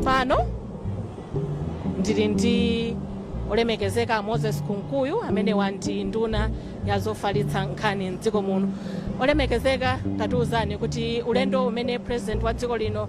pano ndili ndi olemekezeka moses kunkuyu amene ali ndi nduna ya zofalitsa nkhani mdziko muno olemekezeka tatiuzani kuti ulendo umene president wa dziko lino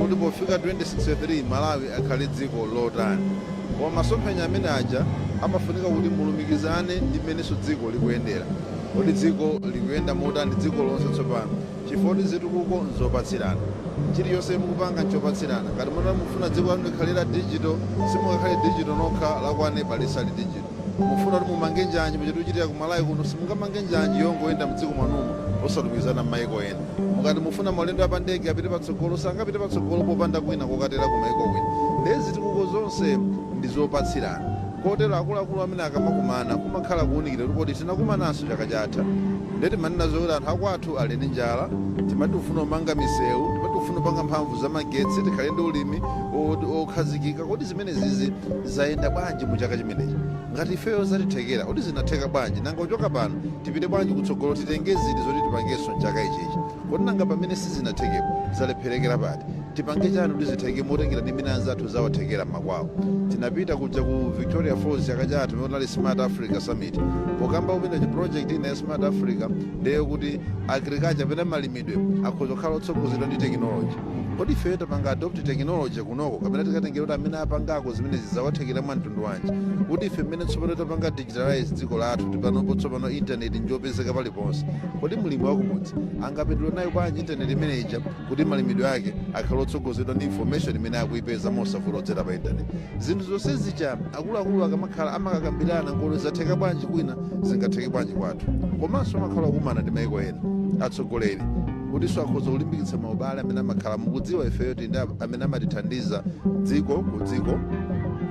kuti pofika 2063 Malawi akhale dziko lotani. Koma masomphenya amene aja amafunika kuti mulumikizane ndi mmenenso dziko likuyendera. Kodi dziko likuyenda motani dziko lonse tsopano? Chifukwa choti zitukuko nzopatsirana. Chilichonse mukupanga nchopatsirana. Ngati mutati mukufuna dziko lanu likhale la digital, simungakhale digital nokha, la kwa neba lisali digital. Mufuna kuti mumange njanji muja tikuchitira ku Malawi kuno? Simungamange njanji yongoyenda mdziko mwanumo osalumikizana mmaiko ena. Mukati mufuna maulendo a pa ndege apite patsogolo sangapite patsogolo popanda kwina kokatera ku maiko kwina. Ndiye zitukuko zonse ndi zopatsirana. Kotero akuluakulu amene akamakumana kumakhala kuunikira kuti kodi tinakumananso chaka chatha? Ndiye timanena zokuti anthu akwathu ali ndi njala, timati tikufuna kumanga miseu, timati tikufuna kupanga mphamvu za magetsi, tikhale ndi ulimi wokhazikika. Kodi zimene. zimenezizi zayenda bwanji mu chaka chimenechi ngati ifeyo zatithekera kodi zinatheka bwanji nanga kuchoka pano tipite bwanji kutsogolo titenge ziti zoti tipangenso mchaka ichichi kodi nanga pamene sizinathekepo zalepherekera pati tipange chani kuti zitheke motengera ndi mmene anzathu zawathekera m'makwawo tinapita kuja ku victoria falls chaka chatha pamene kunali smart africa summit pokamba kupita chi project ina ya smart africa ndi yokuti agriculture pena malimidwe akhoza kukhala otsogozedwa ndi tekinoloji Kodi ifeyo tapanga adopt technology kunoko kapena tikatengera kuti amene apangako zimenezi zawathekera mwa mtundu wanji? Kuti ife mmene tsopano tapanga digitalize dziko lathu kuti panopo tsopano intaneti njopezeka paliponse. Kodi mlimi wakumudzi angapindule nayo bwanji intaneti imene ija kuti malimidwe ake akhale otsogozedwa ndi information imene akuipeza mosavuta kudzera pa intaneti? Zinthu zonse zija akuluakulu akamakhala amakakambirana kodi zatheka bwanji kwina zingatheke bwanji kwathu. Komanso amakhala okumana ndi maiko ena atsogoleri kutinso akhoza kulimbikitsa maubale amene amakhala mukudziwa ifeyo tili ndi amene amatithandiza dziko ku dziko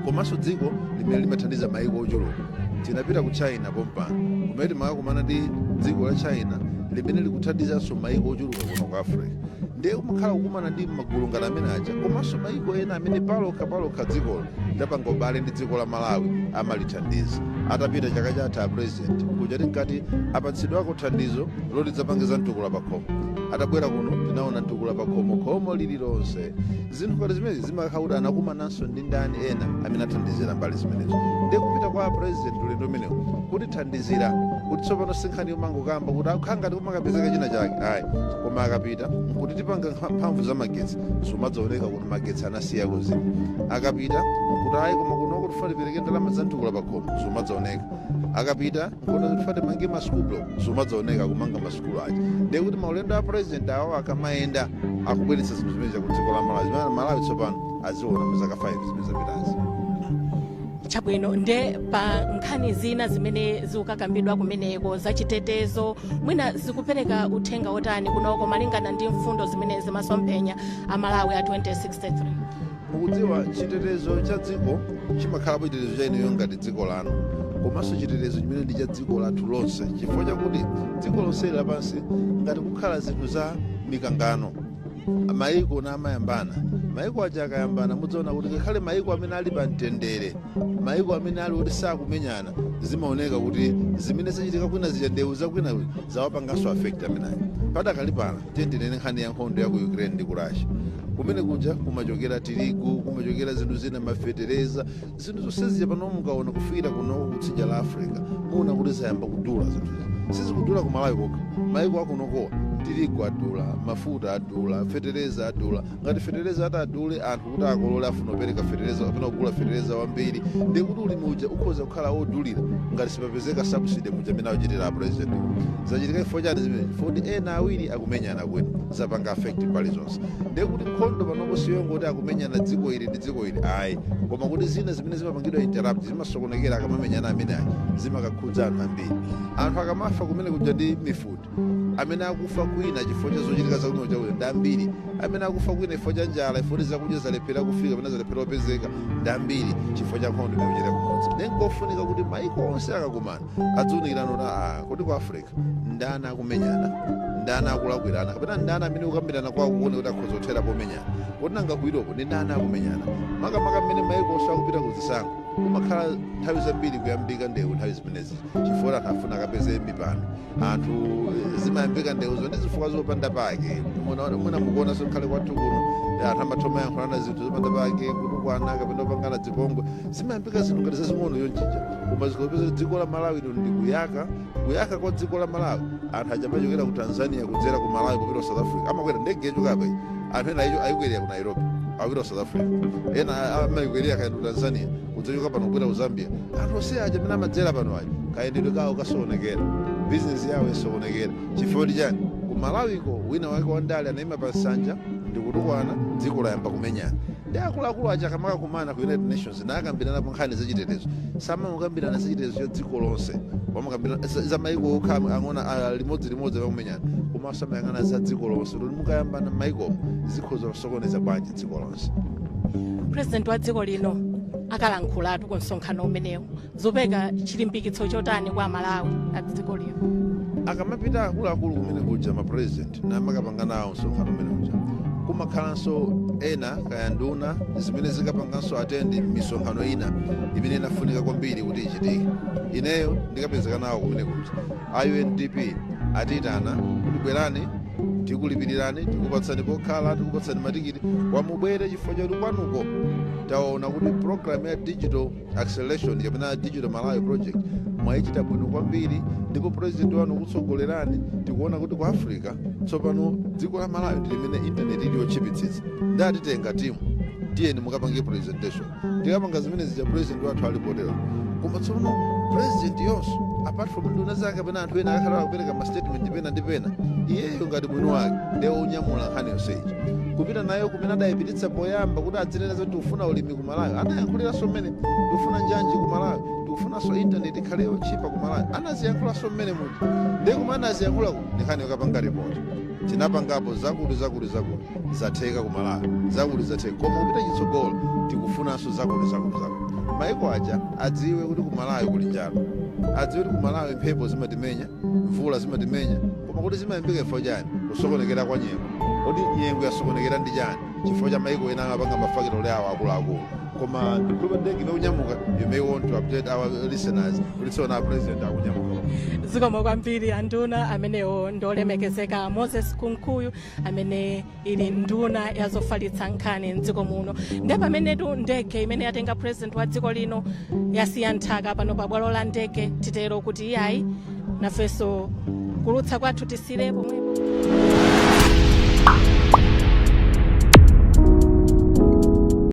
komanso dziko limene limathandiza maiko ochuluka tinapita ku china pompano kumene timakakumana ndi dziko la china limene likuthandizanso maiko ochuluka kuno ku africa ndiye kumakhala kukumana ndi magulu ngati amene aja komanso maiko ena amene palokha palokha dzikolo lidapanga ubale ndi dziko la malawi amalithandiza atapita chaka chatha a president kuja tinkati apatsidwako thandizo loti tidzapange za mtukula pa khomo atabwera kuno tinaona mtukula pa khomo khomo lililonse zinthu ngati zimenezi zimakhala kuti anakumananso ndi ndani ena amene athandizira mbali zimenezo ndiye kupita kwa president ulendo umenewu kutithandizira kuti tsopano sinkhani yomangokamba kuti akhala ngati kumakapezeka china chake ayi koma akapita nkuti tipanga nkha- mphamvu za magetsi zomadzaoneka kuti magetsi anasiya kuzima akapita nkuti ayi koma kunoko tifuna tipereke ndalama za mtukula pa khomo zomadzaoneka akapita nkona tifuna timange masukulu zimadzaoneka kumanga masukulu aja ndiye kuti maulendo a president awo akamayenda akubweretsa zinthu zimene ku dziko la malawi zimene malawi tsopano aziona mu zaka 5 zimene zapitazi chabwino nde pa nkhani zina zimene zikukakambidwa kumeneko zachitetezo mwina zikupereka uthenga wotani kunoko malingana ndi mfundo zimene zimasomphenya a malawi a 2063 mukudziwa chitetezo cha dziko chimakhalapo chitetezo cha ineyo ngati dziko lanu komanso chitetezo chimene ndi cha dziko lathu lonse chifukwa chakuti dziko lonseli lapansi ngati kukhala zinthu za mikangano mayiko na amayambana mayiko aja akayambana mudzaona kuti ngakhale mayiko amene ali pa mtendere mayiko amene ali kuti sakumenyana zimaoneka kuti zimene zachitika kwina zija ndewu zakwina zawapanganso affect amenayo padakali pano Tiyeni tinene nkhani ya nkhondo ya ku Ukraine ndi ku Russia. Kumene kuja kumachokera tirigu, kumachokera zinthu zina, mafetereza, zinthu zonse zija pano mukaona kufikira kunoko kutsidya la Africa, muona kuti zayamba kudula zinthu. Sizikudula ku Malawi kokha, maiko akunokowa tirigu adula, mafuta adula, fetereza adula, ngati fetereza atadule anthu kuti akolole afuna kupereka fetereza kapena kugula fetereza wambiri ndiye kuti ulimi uja ukhoza kukhala wodulira ngati sipapezeka subsidy muja amene akuchitira apresident zachitika chifukwa chani zimene foti ena awiri akumenyana kwina zapanga affect mbali zonse ndiye kuti nkhondo panopo siyongoti akumenyana dziko ili ndi dziko ili ayi koma kuti zina zimene zimapangidwa interrupt zimasokonekera akamamenyana amene ayi zimakakhudza anthu ambiri anthu akamafa kumene kuja ndi mifuti amene akufa kwina chifukwa cha zochitika za kunoko chakuno ndi ambiri amene akufa kwina chifukwa cha njala chifukwa kuti zakudya zalephera kufika kapena zalephera kupezeka ndi ambiri chifukwa cha nkhondo imene ikuchitika kumodzi ndi nkofunika kuti maiko onse akakumana aziunikirana kuti aa kodi ku africa ndani akumenyana ndani akulakwirana kapena ndani amene kukambirana kwawo kukuoneka kuti akhoza kuthera pomenyana kodi nanga ku europe ndi ndani akumenyana makamaka mmene maiko onse akupita ku zisankho kumakhala nthawi zambiri kuyambika ndewu nthawi zimenezi chifukwa anthu afuna akapeze mipando anthu zimayambika ndewuzo ndi zifukwa zopanda pake mwina mukuonanso ngakhale kwathu kuno anthu amatha kumayankhulana zinthu zopanda pake kutukwana kapena kupangana zipongwe zimayambika zinthu ngati zazing'ono yonjija koma uzikapeza kuti dziko la malawi lino ndi kuyaka kuyaka kwa dziko la malawi anthu aja amachokera ku tanzania kudzera ku malawi kupita ku south africa amakwera ndege yochoka apa anthu ena ayikwerera ku nairobi akupita ku south africa ena amayikwerera kaenda ku tanzania kudzachokera pano kubwera ku zambia anthu onse aja amene amadzera pano aja kayendedwe kawo kasokonekera bizinesi yawo isokonekera chifukwa chani ku malawiko wina wake wandale anayima pa nsanja ndikutukwana dziko layamba kumenyana ndi akuluakulu aja akamakakumana ku united nations nakambiranapo nkhani zachitetezo samangokambirana zachitetezo cha dziko lonse amakambirana za- za maiko okha am- ang'ona a- limodzi limodzi akakumenyana komanso amayang'ana za dziko lonse kuti mukayambana m'maikomo zikhoza kusokoneza bwanji dziko lonse purezidenti wa dziko lino akalankhulatu ku msonkhano umenewu zopereka chilimbikitso chotani kwa amalawi a dziko lino akamapita akuluakulu kumene kuja mapurezidenti amakapanga nawo msonkhano umene uja kumakhalanso ena kaya nduna zimene zikapanganso atendi misonkhano ina imene inafunika kwambiri kuti ichitike ineyo ndikapezeka nawo kumene kuja a UNDP atiitana kuti bwerani tikulipirirani tikupatsani pokhala tikupatsani matikiti kuti mubwere chifukwa choti kwanuko taona kuti program ya digital acceleration kapena digital malawi project mwayichita bwino kwambiri ndipo president wanu akutsogolerani tikuona kuti ku africa tsopano dziko la malawi ndi limene intaneti ili yotchipitsitsa ndatitenga timu tiyeni mukapange presentation tikapanga zimene zija president wathu ali potero koma tsono president yonso apart from nduna zake kapena anthu ena akhala akupereka ma statement pena ndi pena iyeyo ngati mwini wake ndiye onyamula nkhani yonseyi kupita nayo kumene adayipititsa poyamba kuti adzinena zoti tikufuna ulimi ku malawi anayankhuliranso mmenemo tikufuna njanji ku malawi tikufunanso intaneti ikhale yotchipa ku malawi anaziyankhulanso mmenemuja ndiye kumene anaziyankhulako ndi nkhani yokapanga ripoti tinapangapo zakuti zakuti zakuti zatheka ku malawi zakuti zatheka koma kupita chitsogolo tikufunanso zakuti zakuti zakuti maiko aja adziwe kuti ku malawi kuli njala adziwe kuti ku malawi mphepo zimatimenya mvula zimatimenya koma kuti zimayambika chifukwa chani kusokonekera kwa nyengo kodi nyengo yasokonekera ndi chani chifukwa cha maiko ena amapanga mafakitale awo akuluakulu koma ndikuopa ndege imene ikunyamuka you may want to update our listeners kuti tsopano president akunyamuka zikomo kwambiri anduna amenewo ndi olemekezeka moses kunkuyu amene ali nduna ya zofalitsa nkhani mdziko muno ndi pamenetu ndege imene yatenga president wa dziko lino yasiya nthaka pano pa bwalo la ndege titero kuti iyayi nafenso kuulutsa kwathu tisiyire pomwepo